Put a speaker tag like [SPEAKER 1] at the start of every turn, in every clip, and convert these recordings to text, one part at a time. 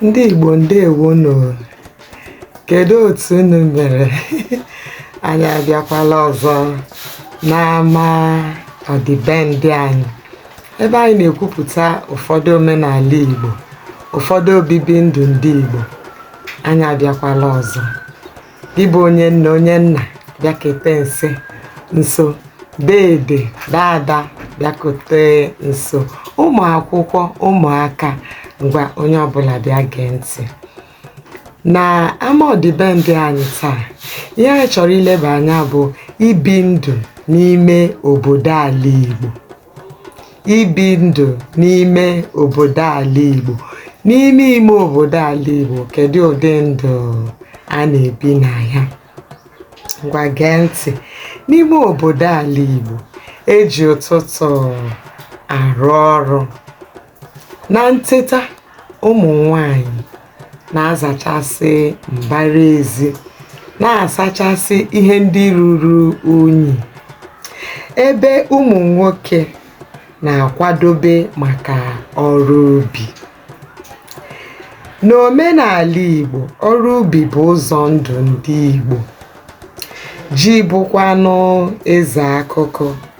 [SPEAKER 1] ndị Igbo ndewonu kedu otu unu mere anyị abịakwala ọzọ n'ama ọdịbendị anyị Ebe anyị na-ekwupụta ụfọdụ omenala Igbo, ụfọdụ obibi ndụ ndị Igbo, anyị abịakwala ọzọ. Gị bụ onye nne, onye nna, bịakete nso nso. Deede, daada, bịakete nso. Ụmụ akwụkwọ, ụmụaka, ngwa onye ọbụla bịa gee ntị. nà ama ọ̀dị̀bendị anyị taa ihe anyị chọ̀rọ̀ ilebà anya bụ̀ ibi ndụ̀ n'ime òbòdo àla ìgbò ibi ndụ̀ n'ime òbòdo àla ìgbò n'ime ime òbòdo àla ìgbò kèdụ ụ̀dị ndụ̀ a nà-èbi nà ya ngwa gee ntị̀ n'ime òbòdo àla ìgbò e jì ụtụtụ̀ àrụ ọrụ Na nteta, ụmụ nwanyị na-azachasị mbara ezi, na-asachasị ihe ndị ruru unyi, ebe ụmụ nwoke na-akwadobe maka ọrụ ubi. N'omenala Igbo, ọrụ ubi bụ ụzọ ndụ ndị Igbo. Ji bụkwanụ eze akụkụ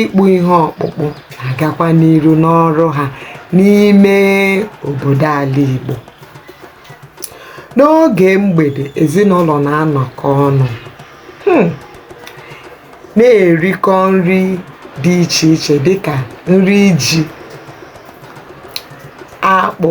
[SPEAKER 1] ịkpụ ihe ọkpụkpụ na-agakwa n'iru n'ọrụ ha n'ime obodo ala Igbo n'oge mgbede ezinụlọ na-anọkọ ọnụ hmm, na-erikọ nri dị iche iche dịka nri ji akpụ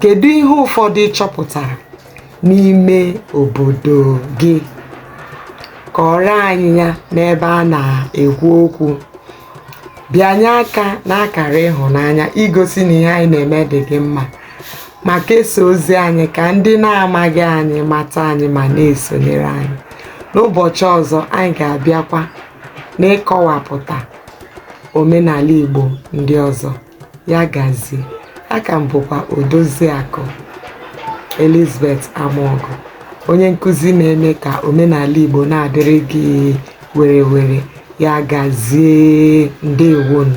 [SPEAKER 1] Kedu ihe ụfọdụ ị chọpụtara n'ime obodo gị? Kọọrọ anyị ya n'ebe a na-ekwu okwu. Bịanye aka n'akara ịhụnanya igosi na ihe anyị na-eme dị gị mma ma kesaa ozi anyị ka ndị na-amaghị anyị mata anyị ma na-esonyere anyị. N'ụbọchị ọzọ, anyị ga-abịakwa n'ịkọwapụta omenala Igbo ndị ọzọ. ya gazie a ka m bụkwa odoziakụ elizabeth amaọgụ onye nkụzi na-eme ka omenala igbo na-adịrị gị were were ya gazie ndewonu